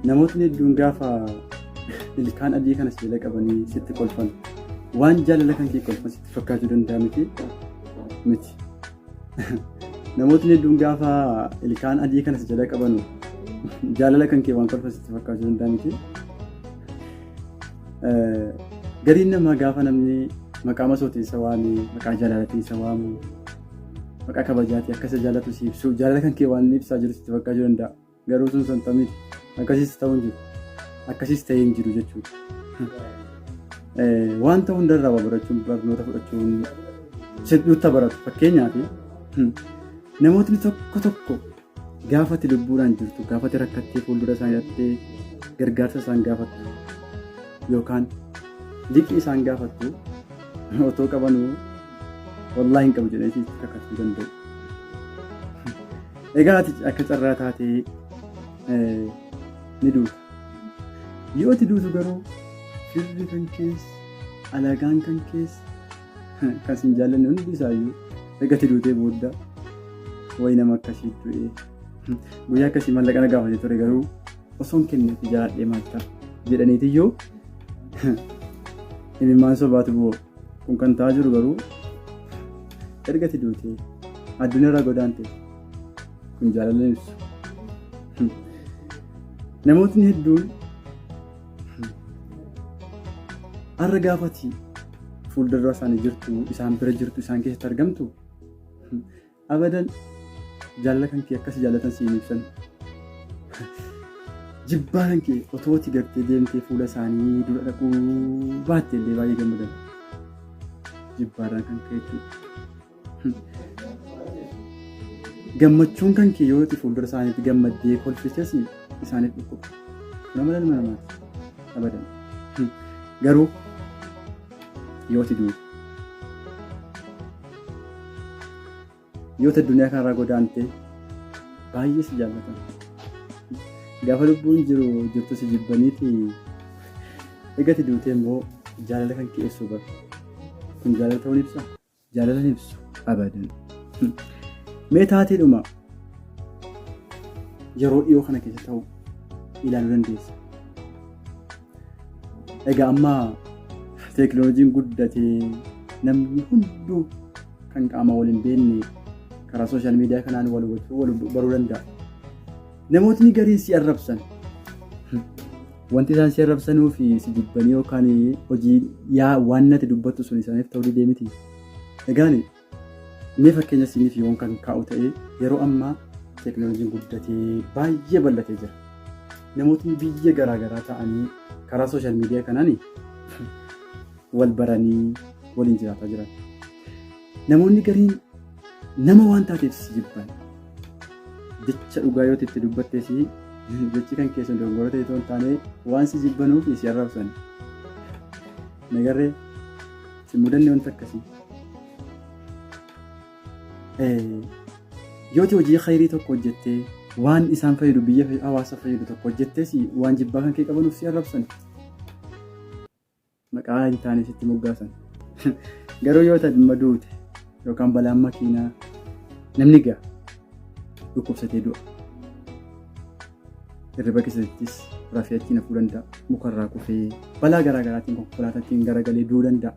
Namootni hedduun gaafa ilkaan adii kana sibiila qabanii sitti kolfan waan jaalala kan kee kolfan sitti fakkaachuu danda'a miti miti. Namootni hedduun gaafa ilkaan adii kana si jala qabanu jaalala kan kee waan kolfan sitti fakkaachuu danda'a miti. Gariin namaa gaafa namni maqaa masootii isa waamee maqaa jaalalatii isa waamu Maqaa kabajaati akka isa jaalatu si ibsu jaalala kan kee waan ibsaa jiru sitti fakkaa jiru danda'a. Garuu sun santa miti. Akkasiis ta'uu hin jiru. Akkasiis ta'ee hin jiru jechuudha. Wanta hundarraa waa barachuun barnoota fudhachuun sitti baratu fakkeenyaaf namootni tokko tokko Gaafa ati lubbuudhaan jirtu, gaafa ati rakkattee fuuldura isaan irratti gargaarsa isaan gaafattu yookaan liqii isaan gaafattu otoo qabanuu wallaahi hin qabu jedhanii sitti kakachuu danda'u. Egaa ati akka carraa taatee eh, ni duuta. Yoo ati duutu garuu firri kan keessa, alagaan kan keessa, Kan siin jaallanne hundi isaayyuu ergatti duutee booda wayi nama akkasii du'ee. Guyyaa akkasii mallaqa na gaafate ture garuu osoo hin kenne itti jaalladhee maal ta'a jedhaniitiyyuu imimmaan sobaatu bu'u. Kun kan ta'aa jiru garuu ergatti duutee addunyaarraa godaante kun jaalala ibsu. Namootni hedduun Har'a gaafati fuuldura isaanii jirtu, isaan bira jirtu, isaan keessatti argamtu abadan jaalala kan kee akkasii jaalatan siin ibsan. Jibbaa kan kee otoo itti gartee deemtee fuula isaanii dura dhaquu baatte illee baay'ee gammadan. Jibbaarraa kan ka'e jechuudha. Gammachuun kan kee yoo itti fuuldura isaaniitti gammaddee kolfites isaaniif dhukkuba. Kun amala ilma namaati. Abadan. Garuu yoo itti duute. Yoo itti addunyaa kanarraa godaantee baay'ee si jaallatan. Gaafa lubbuun jiru jirtu si jibbaniiti egaa itti duutee immoo jaalala kan kee ibsu bara. Kun jaalala ta'uun ibsaa? Jaalala hin ibsu abadan. Mee taateedhuma yeroo dhiyoo kana keessa ta'u ilaaluu dandeessa. Egaa amma teekinooloojiin guddatee namni hunduu kan qaama wal hin beekne karaa sooshaal miidiyaa kanaan wal hubachuu wal baruu danda'a. Namootni gariin si arrabsan Wanti isaan si arrabsanuu fi si jibbanii yookaan hojii yaa waan nati dubbattu sun isaaniif ta'uu didee miti. Egaan mee fakkeenya siiniif yoon kan kaa'u ta'e yeroo ammaa teekinooloojiin guddatee baay'ee bal'atee jira. Namootni biyya garaagaraa ta'anii karaa sooshaal miidiyaa kanaan wal baranii waliin jiraataa jiran. Namoonni gariin nama waan taateef si jibban. Jecha dhugaa yoo itti dubbattee si jechi kan keessa dogongora ta'e ta'uu hin taane waan si jibbanuuf si arrabsan. Nagarree si mudanne wanta akkasii. Yoo hojii khayrii tokko hojjettee waan isaan fayyadu biyya hawaasa fayyadu tokko hojjettee si waan jibbaa kan kee qabanuuf si arrabsan. maqaa hin taane sitti moggaasan. Garuu yoo ta'e dhimma duute yookaan balaan makiinaa namni ga'a dhukkubsatee du'a. Hirriba keessattis rafee achiin hafuu danda'a. Mukarraa kufee balaa garaa garaatiin konkolaataatiin garagalee du'uu danda'a.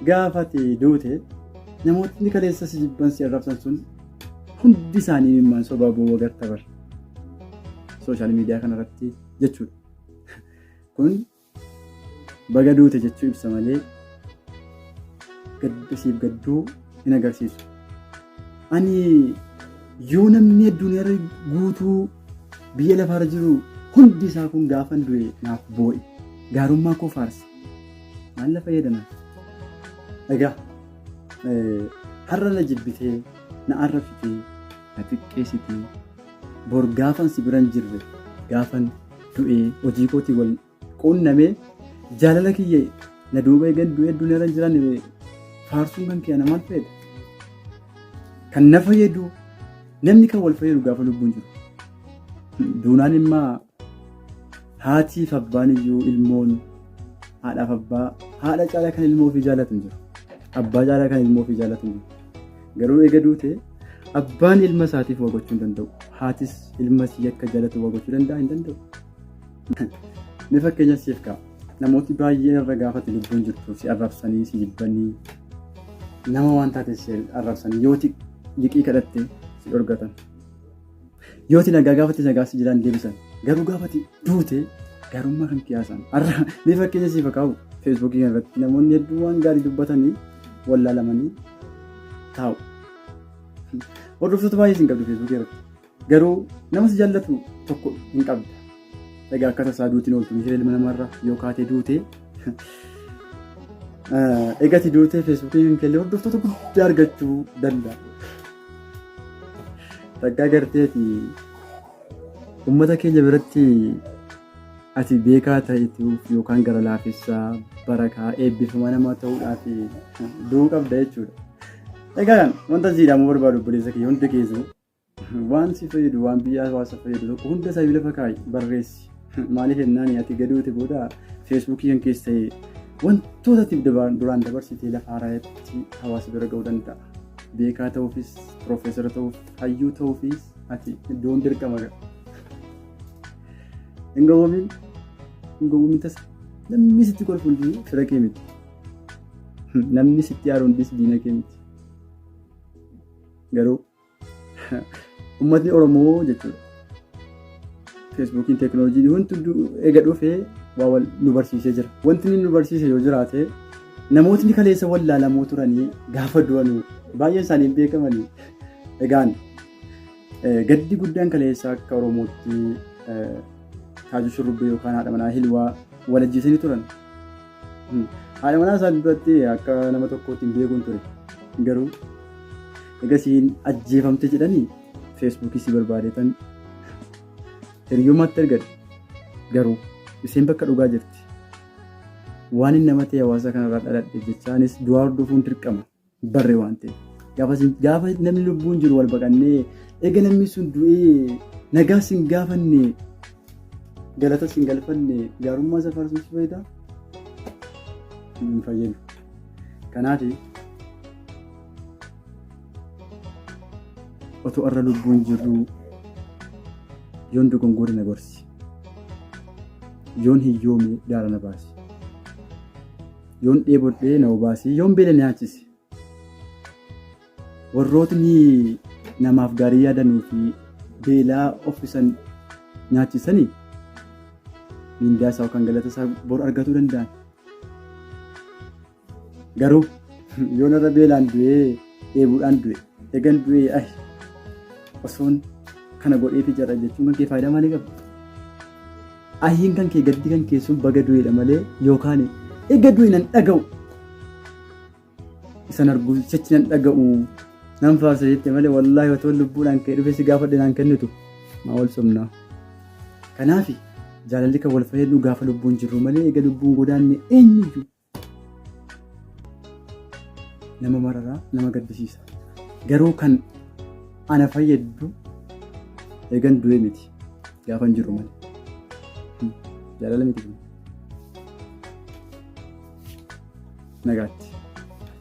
Gaafa ati duute namootni kaleessa si jibban si arrabsan sun hundi isaanii mimmaan sobaa boo'uu agarta bara. Sooshaal miidiyaa kanarratti jechuudha. kun baga duute jechuu ibsa malee gadda siif gadduu hin agarsiisu. Ani yoo namni addunyaarra guutuu biyya lafaarra jiru hundi isaa kun gaafan du'e naaf boo'e gaarummaa koo faarse maal na fayyadama? Egaa har'a na jibbitee na arrabsitee na xiqqeessitee bor gaafan si biran jirre gaafan du'ee hojii kootii wal quunnamee jaalala kiyya na duuba eegan du'ee addunyaa irra hin jiraanne faarsuun kan kiyya namaan fayyada. Kan na fayyadu namni kan wal fayyadu gaafa lubbuun jiru. Duunaan immaa haatiif abbaan iyyuu ilmoon haadhaaf abbaa haadha caalaa kan ilmoo ofii jaallatu hin jiru. Abbaa caalaa kan ilmoo ofii jaallatu hin jiru. Garuu eega duute abbaan ilma isaatiif waa gochuu hin danda'u. Haatis ilma isii akka jaalatu waa gochuu danda'a hin danda'u. Mee fakkeenya siif ka'a. Namooti baay'een irra gaafate lubbuun jirtu si arrabsanii si jibbanii nama waan taate si arrabsanii yoo liqii kadhatte si dhorgatan. Yoo ati nagaa gaafatti nagaa si jalaan deebisan garuu gaafatti duute garummaa kan qiyaasan har'a mee fakkeenya siif kaa'u feesbuukii kana irratti namoonni hedduu waan gaarii dubbatanii wallaalamanii taa'u. Hordoftoota baay'ee isin qabdu feesbuukii irratti garuu nama si jaallatu tokko hin qabda. Egaa akka tasaa duutiin ooltu miira ilma namarra yoo kaatee duute eegati duutee feesbuukii kan kelle hordoftoota guddaa argachuu danda'a. Takkaa garteeti uummata keenya biratti ati beekaa ta'etuuf yookaan gara laafessaa barakaa eebbifamaa namaa ta'uudhaaf du'uu qabda jechuudha. Egaa wanta jedhamu barbaadu obboleessa kiyya hundi keessu Waan si fayyadu waan biyya hawaasa fayyadu tokko hunda isaa lafa kaa'i barreessi. Maaliif jennaan ati gaduuti booda feesbuukii kan keessa ta'e wantoota ati duraan dabarsitee lafa haaraatti hawaasa bira ga'uu danda'a. Beekaa ta'uufis, piroofeesara ta'uuf, hayyuu ta'uufis ati iddoon dirqama ga'a. Hin gowwoomin, hin gowwoomin tasa. Namni sitti kolfu hundi fira kee miti. Namni sitti aaru hundis diina kee miti. Garuu Uummatni Oromoo jechuudha. Feesbuukiin teekinooloojiin wanti eega dhufee waa wal nu barsiisee jira. Wanti inni nu barsiise yoo jiraate namootni kaleessa wallaalamoo turanii gaafa du'an baay'een isaanii hin beekamani. Egaan gaddi guddaan kaleessa akka Oromootti taajuu shurrubbee yookaan haadha manaa hilwaa wal ajjeesanii turan. Haadha manaa isaan duratti akka nama tokkootti hin beekuun ture. Garuu egasiin ajjeefamte jedhanii feesbuukii si barbaadeetan hiriyummaatti ergadhe. Garuu isheen bakka dhugaa jirti. Waan inni nama ta'e hawaasa kanarraa dhaladhe jechaanis du'aa hordofuun dirqama. barre waan ta'e. Gaafa namni lubbuun jiru wal baqannee eega namni sun du'ee nagaa sin gaafanne galata sin galfanne gaarummaa isa faarsuun si fayyada hin fayyadu. Kanaaf otoo irra lubbuun jirru yoon dogongore na gorsi yoon hiyyoome gaara na baasi. Yoon dheebodhee na obaasi, yoon beela na nyaachisi. Warrootni namaaf gaarii yaadanuu fi beelaa offisan nyaachisanii mindaa isaa yookaan galata isaa bor argatuu danda'an. Garuu yoon irra beelaan du'ee dheebuudhaan du'e egan du'ee ayi osoon kana godheeti jira jechuun kan kee faayidaa maalii qaba? Ayyiin kan kee gaddi kan kee sun baga du'eedha malee yookaan eega du'e nan dhaga'u. Isan arguu sichi nan dhaga'u. Nan faarsa jette malee wallaahi otoo lubbuudhaan kee dhufe si gaafadhe naan kennitu. Maa wal sobnaa. Kanaafi jaalalli kan wal fayyadu gaafa lubbuun jirru malee eega lubbuun godaanne eenyuyyuu nama mararaa nama gaddisiisa garuu kan ana fayyaddu eegan du'e miti gaafa hin jiru malee jaalala miti nagaatti.